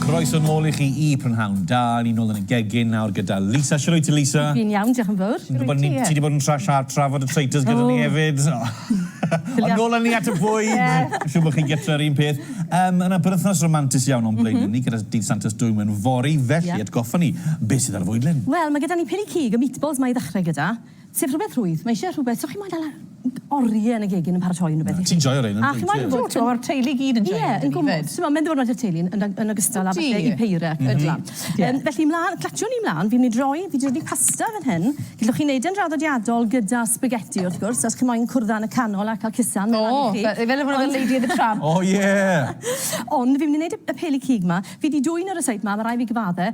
Croeso nôl i chi i Prynhawn Da. Ni nôl yn y gegin nawr gyda Lisa. Shwt wyt ti, Lisa? Fi'n iawn, diolch yn fawr. Shwt wyt ti? Ti wedi bod yn tra tra trafod y traitors gyda ni hefyd. Ond nôl â ni at y bwyd. Fi'n siŵr bod chi'n gytre yr un peth. Um, yna berthnos romantis iawn o'n blaen mm -hmm. ni gyda dydd Santes Dwym yn fori, felly yeah. atgoffa ni, beth sydd ar y fwyd, Lynn? Wel, mae gyda ni piri cig y meatballs mae i ddechrau gyda. Sef rhywbeth rhwydd. Mae eisiau rhywbeth... So chi moyn dala oriau yn y gegin yn paratoi unrhyw beth i chi. Na, ti'n joio rhein yn dwyt? A chi moyn gwybod... Do, ma'r teulu i gyd yn joio nhw dydi 'fyd? Ie, ma'n ddiwrnod i'r teulu yn yn ogystal â falle i Peira. Ydi. Yym felly mlan, clatsio ni mlan, fi'n myn' i droi, fi 'di dodi pasta fan hyn, gellwch chi neud e'n draddodiadol gyda sbageti wrth gwrs, os chi moyn cwrdda yn y canol a ca'l cusan ma' lan i chi. O! Fe- fel rywbeth fel Lady and the Tramp. O ie! Ond fi myn' i neud y y peli cig 'ma, fi 'di dwyn e ryseit 'ma, ma' rai' fi gyfadde,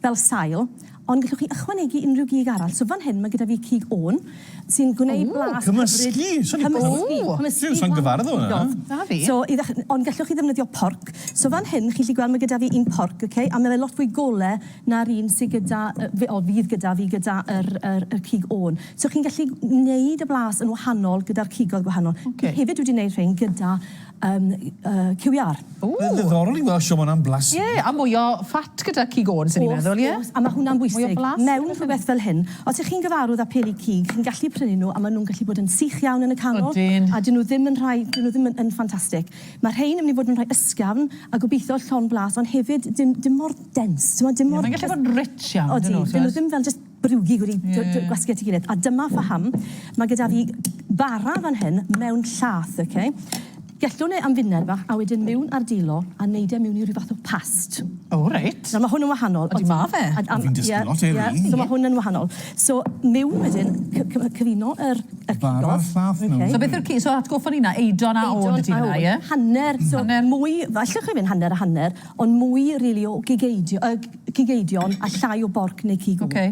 fel sail, ond gellwch chi ychwanegu unrhyw gig arall. So fan hyn mae gyda fi cig ôn, sy'n gwneud blas hyfryd... Cymysgu! Cymysgu! Cymysgu! Dwi sai'n gyfarwydd â hwnna. Na fi. So i ddechr- ond gellwch chi ddefnyddio porc. So fan hyn chi'n gallu gweld mae gyda fi un porc, ok, a mae fe lot fwy gole na'r un sy gyda yy f- o fydd gyda fi gyda yr yr y cig ôn. So chi'n gallu wneud y blas yn wahanol gyda'r cigoedd gwahanol. Ok. Fi hefyd wedi wneud rhein gyda Yym QER. Ww! Mae'n ddiddorol i weld siomon am blas ynddi? Ie, a mwy o fat gyda cig Owens o'n i'n meddwl, ie? Wrth gwrs, a ma' hwnna'n bwysig. Mwy o blas. Mewn rhywbeth fel hyn, os 'ych chi'n gyfarwydd â pheli cig, chi'n gallu prynu nhw a ma' nhw'n gallu bod yn sych iawn yn y canol. Odyn. A 'dyn nhw ddim yn rhai, 'dyn nhw ddim yn yn ffantastig. Ma' rhein yn myn' i fod yn rhai ysgafn a gobeithio llond blas ond hefyd dim dim mor dense, t'mod dim mor... Ie, mae'n gallu bod yn rich iawn, yndy nhw? Odi, 'dyn nhw ddim fel jyst brwgig wedi dod gwasgu at ei gilydd a dyma pham mae gyda fi bara fan hyn mewn llath, oce? Gellwn e am funud fach a wedyn miwn ar dilo a neud e miwn i ryw fath o past. O reit. Nawr ma' hwn yn wahanol. Ydi ma' fe? A a... Fi'n dysgu lot heddi. Ie ie so ma' hwn yn wahanol. So miwn wedyn cy- cy- cyfuno yr yr cigog. Bara a'r llath mewn iddi. So beth yw'r ci- so atgoffa ni nawr eidon a ôl ydi hwnna ie? Eidon a ôl. Hanner so hanner mwy, allwch chi fynd hanner a hanner ond mwy rili o gigeidio yy cig eidion a llai o borc neu cig o. Oce.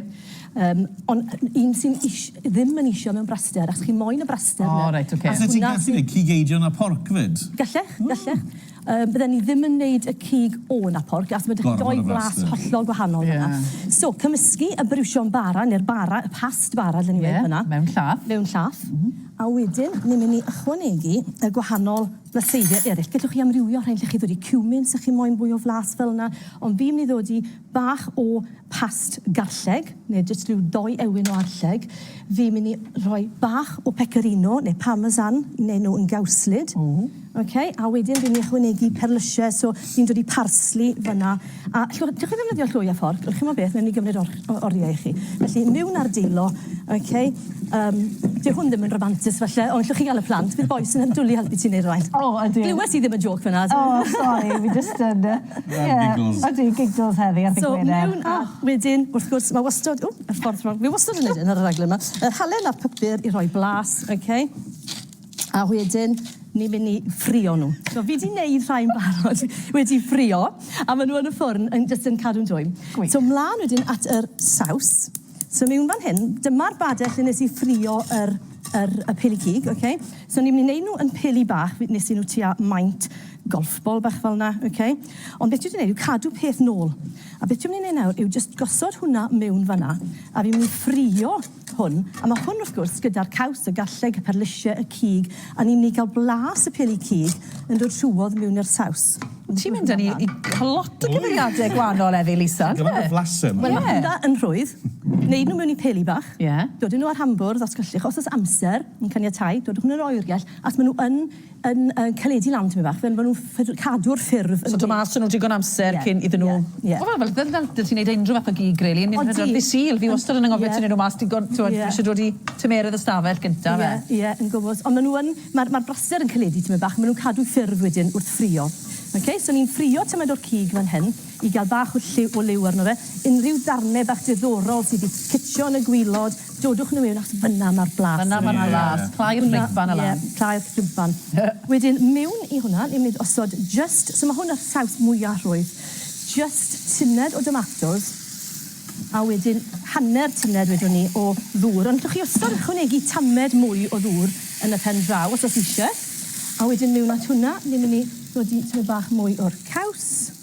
Yym on' yy un sy'n ish- ddim yn isio mewn braster achos chi moyn y braster 'na. O reit oce. Allet ti gallu neud cig eidion a porc 'fyd? Gallech gallech. Yym bydden ni ddim yn neud y cig ôn a porc achos ma' 'da chi dou flas hollol gwahanol yna. Ie. So cymysgu y briwsion bara ne'r bara y past bara dlen ni weud fynna. Ie mewn llath. Mewn llath. M-hm. A wedyn ni myn' i ychwanegu y gwahanol Mae seiliau eraill. Gellwch chi amrywio rhain lle chi ddod i cumin, sa chi moyn fwy o flas fel yna, ond fi'n mynd i ddod i bach o past garlleg, neu jyst rhyw ddou ewyn o arlleg. Fi'n mynd i rhoi bach o pecorino neu parmesan i wneud nhw yn gawslyd. Ww. Ok, a wedyn fi'n mynd i ychwanegu perlysiau, so fi'n dod i parsley fan'na. A llwch, dewch i ddefnyddio llwy a fforc, dewch chi'mo beth, newn ni gymryd or- o- oriau i chi. Felly, miwn ar dilo, ok, yym, dyw hwn ddim yn ramantus falle, ond llwch chi ga'l y plant, bydd bois yn yn dwli helpu ti neud rwfaint. O, ydw. Glywes i ddim y jôc fynna. O, sori, fi jyst yn yy, ie, Giggles. odi, giggles heddi ar ddy' Gwener. So, miwn a wedyn, wrth gwrs, ma' wastod, ww, y ffordd rong, fi wastod yn neud hyn ar y raglen 'ma, yr halen a'r papur i roi blas, ok. A wedyn ni'n mynd i ffrio nhw. So fi 'di neud rhai'n barod wedi ffrio a ma' nhw yn y ffwrn yn jyst yn cadw'n dwym. Gwych. So mlan wedyn at yr saws. So miwn fan hyn, dyma'r bade lle nes i ffrio yr yr y pili cig, oce? So ni'n myn' i neud nhw yn pili bach, fi nes i nhw tua maint golf bol bach fel 'na, oce? Ond beth dwi 'di neud yw cadw peth nôl. A beth dwi myn' i neud nawr yw jyst gosod hwnna miwn fan 'na a fi myn' i ffrio hwn, a ma hwn wrth gwrs gyda'r caws, y garlleg, y perlysie, y cig, a ni'n mynd i ga'l blas y peli cig yn dod trwodd miwn i'r saws. Ti'n mynd â ni i lot o gymeriade gwanol heddi Lisa, on'd yfe? Gymaint o flase ma. Wel ma hwnna yn rhwydd. Neud nhw miwn i peli bach. Ie. Dod â nhw ar rhan bwrdd os gellwch, os o's amser yn caniatáu, dodwch â nhw i'r oergell, achos ma nhw yn yn caledu lan tymed bach fel ma' nw'n cadw'r ffurf yn... So do' mas 'da nw digon amser cyn iddyn nw... Ie ie. Wel fel fel ti'n neud unrhyw fath o gig rili yn mynd pedwar ddydd Sul fi wastad yn angofio tynnu nw mas digon t'mod fi isie dod i tymeredd y stafell gynta fe. Ie ie yn gwmws on' ma' nw yn ma'r ma'r braser yn caledu tymed bach ma' nw'n cadw ffurf wedyn wrth ffrio. Oce so ni'n ffrio tymed o'r cig fan hyn. i gael bach o lliw o liw arno fe, unrhyw darnau bach diddorol sydd wedi ffitio yn y gwilod, dodwch nhw mewn achos fan'na mae'r blas. Fan'na mae'r blas, clai'r ffrigfan a lan. Ie, clai'r ffrigfan. Wedyn mewn i hwnna, ni'n mynd i osod jyst, so mae hwn ar saws mwya' rhwydd, jyst tuned o domatos, a wedyn hanner tuned wedwn ni o ddŵr, ond allwch chi wastad ychwanegu tamed mwy o ddŵr yn y pen draw os oes eisiau. A wedyn mewn at hwnna, ni'n mynd i nodi tymed bach mwy o'r caws.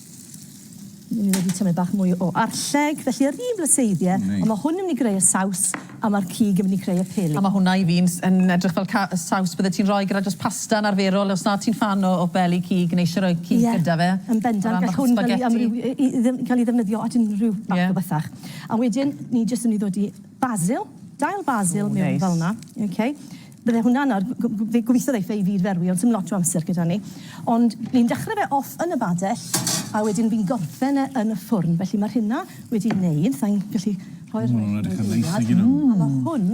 Ni wedi tymed bach mwy o arlleg, felly yr un flyseiddie. O neis. Ond ma' hwn yn myn' i greu y saws a ma'r cig yn myn' i creu y peli. A ma' hwnna i fi'n s- yn edrych fel ca- y saws byddet ti'n roi gyda jyst pasta yn arferol os na ti'n ffan o o beli cig neu isie roi cig gyda fe. Ie, yn bendant. O ran bach o spaghetti. Gall hwn ca'l 'i amrywi- yy i ddim ca'l 'i ddefnyddio at unrhyw fath... Ie. ...o bethach. A wedyn ni jyst yn myn' i ddodi basil, dail basil... O, neis. ...mewn fel 'na. Oce? Bydde hwnna'n ar g- g- fe gobitho ddeith e i fyd ferwi ond sim lot o amser gyda ni. Ond ni'n dechre fe off yn y badell a wedyn fi'n gorffen e yn y ffwrn. Felly ma rhina wedi neud, sai'n gallu rhoi'r rest mewn eiliad. Ma'n edrych yn neis nag 'yn nw? A ma hwn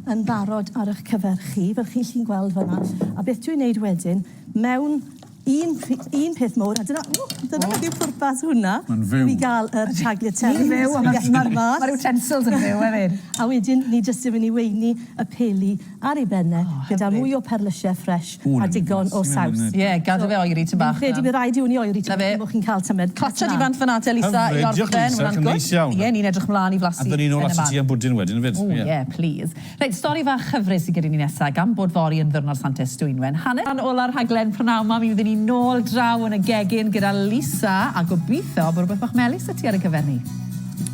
yn barod ar ych cyfer chi fel chi 'lly'n gweld fan 'na. A beth dwi'n neud wedyn mewn Un, un peth mowr, a dyna, ww, dyna beth yw pwrpas hwnna. Mae'n fyw. I gael yr tagliatelle. Mae'n fyw, a mae'r ma, ma, ma utensils yn fyw hefyd. a wedyn, ni jyst yn mynd i weini y peli ar ei benne, oh, gyda mwy o perlysiau ffres a digon o saws. Ie, yeah, gadw fe oeri ti'n bach. Fi'n credu bydd rhaid i hwn i oeri ti'n bach, bod chi'n cael tymed. Clatio di fant fyna te, Lisa, i orffen. Mae'n gwrs. Ie, ni'n edrych mlaen i flasu. A dyn ni'n ôl at y ti am bwdin wedyn, fyd. O, ie, please. Reit, stori fach chyfres sy gyda ni nesa, gan bod fory yn ddiwrnod Sant Es Dwynwen, hanner awr ola'r rhaglen prynawn 'ma mi fyddwn ni nôl draw yn y gegin gyda Lisa a gobitho bo' rwbeth bach melys 'da ti ar y cyfer ni.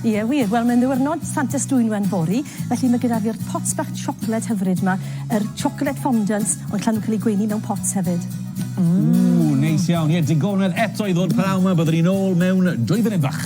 Ie wir, wel mae'n ddiwrnod Sant Es Dwynwen fory, felly ma' gyda fi'r pots bach siocled hyfryd 'ma, yr chocolate fondant, ond llan nhw'n cael eu gweini mewn pots hefyd. Ww, neis iawn. Ie, digonedd eto i ddod prynawn 'ma, byddwn ni nôl mewn dwy funud fach.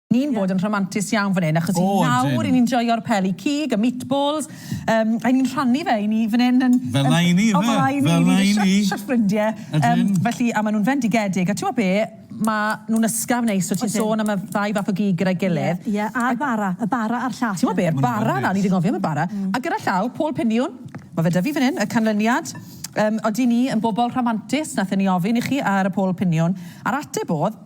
ni'n bod yn rhamantus iawn fan hyn, achos i nawr i ni'n joio'r peli cig, y meatballs, um, a ni'n rhannu fe i ni fan hyn yn... Fel na i ni, fe! Fel na i ni, ni wedi shot shot ffrindie. Um, felly, a maen nhw'n fendigedig, a ti'n be, maen nhw'n ysgaf neis, so ti'n sôn am y ddau fath o gig gyda'i gilydd. Ie, yeah, a'r bara, y bara a'r llall. Ti'n be'r bara na, ni wedi gofio am y bara. Mm. A gyda llaw, Paul Piniwn, mae fe da fi fan hyn, y canlyniad, um, oeddi ni yn bobl rhamantus, nath ni ofyn i chi ar y Paul Piniwn, a'r ateb oedd,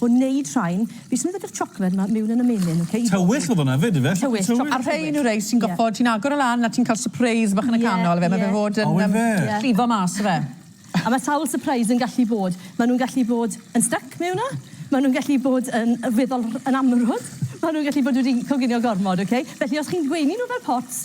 O neud rhain. Fi symud ydy'r chocolate ma miwn yn y menyn ok? Tywyll oedd hwnna fyd ife? Tywyll chocolate. A rhein yw rei sy'n gofod ti'n agor o lan a ti'n cael surprise bach yn y canol ife ma fe fod yn yym llifo mas ife. A ma sawl surprise yn gallu bod. Ma nhw'n gallu bod yn styc mewn yna. Ma nhw'n gallu bod yn weddol yn amrwd. Ma nhw'n gallu bod wedi coginio gormod ok? Felly os chi'n gweini nhw fel pots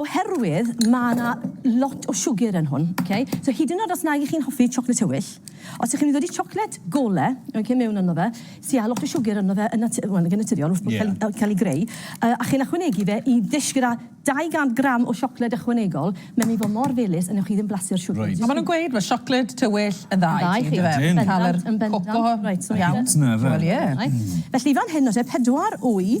Oherwydd mae 'na lot o siwgr yn hwn, oce? So hyd yn oed os nag 'ych chi'n hoffi siocled tywyll, os 'ych chi'n mynd i ddodi siocled gole, oce, mewn ynddo fe, sy â lot o siwgr ynddo fe yn nat- wel nag yn naturiol wrth bod cael cael ei greu, yy a chi'n ychwanegu fe i ddish gyda 200 gram o siocled ychwanegol, mae'n mynd i fod mor felys a newch chi ddim blasu'r siwgr. Reit. A maen nhw'n gweud mae siocled tywyll yn dda i ti. Yn dda i chi. Ydyn. Yn cael yr coco iawn. Cute 'na ife? Wel ie. Felly fan hyn nawr te, pedwar wy.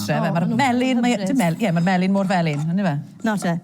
Ie, mae'r melin, mae e, dim mel- ie, mae'r melin mor felyn, yndyw e? Nawr te,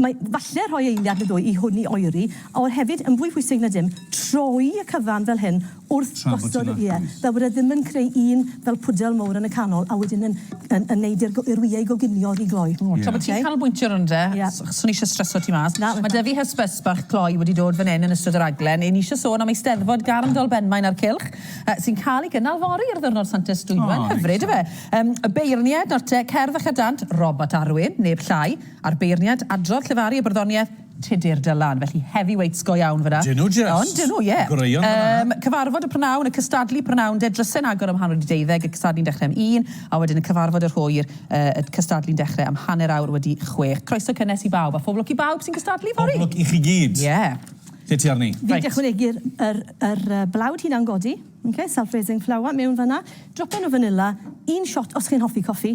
mae falle rhoi eiliad neu ddwy i hwn i oeri, ond hefyd, yn fwy pwysig na dim, troi y cyfan fel hyn wrth gosod... Tra bod ti'n agor. ...ie, fel bod e ddim yn creu un fel pwdel mowr yn y canol, a wedyn yn yn yn neud i'r go- i'r wyau goginio oddi gloi. O, tra bod ti'n canolbwyntio arno fe, s- swn i isie streso ti mas. Na, na. Mae 'da fi hysbyst bach cloi wedi dod fan 'yn yn ystod y rhaglen, 'yn ni isie sôn am Eisteddfod Garndol Benmaen a'r Cylch, yy, sy'n cael ei gynnal fory ar ddiwrnod Santes Dwynwen... O, neis. ...hyfryd, yndyfe? Ym y beirniaid nawr te, cerdd a chadant, Robert Arwyn, neb llai, a'r beirniaid, adrodd, llefaru a barddoniaeth, Tudur Dylan. Felly heavyweights go iawn fan'na. Dyn nhw jest! Ond dyn nhw, ie. Goreuon fan'na. Ym cyfarfod y prynawn, y cystadlu prynawn de, dryse'n agor am hanner wedi deuddeg, y cystadlu'n dechrau am un, a wedyn y cyfarfod yr hwyr, yy y cystadlu'n dechrau am hanner awr wedi chwech. Croeso cynnes i bawb, a phob lwc i bawb sy'n cystadlu fory! Pob lwc i chi gyd! Ie. Lle ti arni? Fi 'di ychwanegu'r yr yr yy blawd hunan godi. Ok, self raising flour mewn fanna. Dropyn o fanilla, un shot os chi'n hoffi coffi,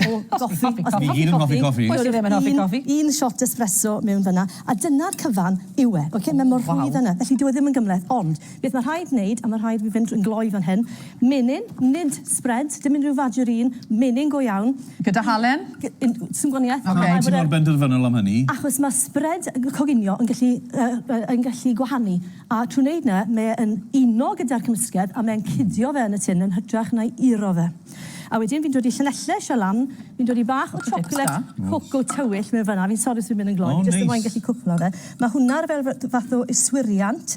o goffi, os chi'n hoffi coffi. Ni gyd yn hoffi coffi. Pwy sy ddim yn hoffi coffi? Un shot espresso mewn fanna, a dyna'r cyfan yw e, ok? Mae mor rhwydd yna, felly dyw e ddim yn gymhleth, ond beth mae rhaid wneud, a mae rhaid fi fynd drwy'n gloi fan hyn, menyn, nid spread, dim unrhyw fagerîn, menyn go iawn. Gyda halen? Sim gwanieth. Pam wyt ti mor benderfynol am hynny? Achos mae spread coginio yn gallu gwahanu. A trwy wneud na, mae e'n uno gyda'r cymysgedd a mae'n cidio fe yn y tin yn hytrach na'i uro fe. A wedyn fi'n dod i Llanelli, Shell Ann, fi'n dod i bach o chocolate coco tywyll mewn fan'na, fi'n sori os fi'n mynd yn gloi, fi jyst moyn gallu cwpla fe. Mae hwnna fel fath o yswiriant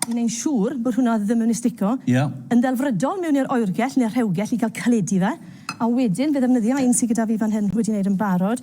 i wneud siŵr bod hwnna ddim yn mynd i stico yn ddelfrydol mewn i'r oergell neu'r rhewgell i gael caledi fe. A wedyn fe ddefnyddia un sy gyda fi fan hyn wedi wneud yn barod.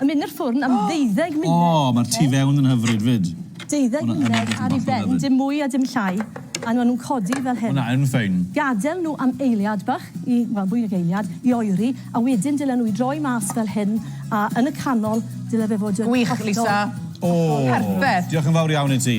Yn mynd i'r ffwrn am ddeuddeg munud. O, mae'r tu fewn yn hyfryd 'fyd. Deuddeg munud ar ei ben, dim mwy a dim llai, a maen nhw'n codi fel hyn. Hwnna yn ffein. Gadael nhw am eiliad bach i, wel, fwy nag eiliad, i oeri, a wedyn dylen nhw i droi mas fel hyn, a yn y canol, dyle fe fod yn hollol... Gwych, Lisa. O! Perffaith. Diolch yn fawr iawn i ti.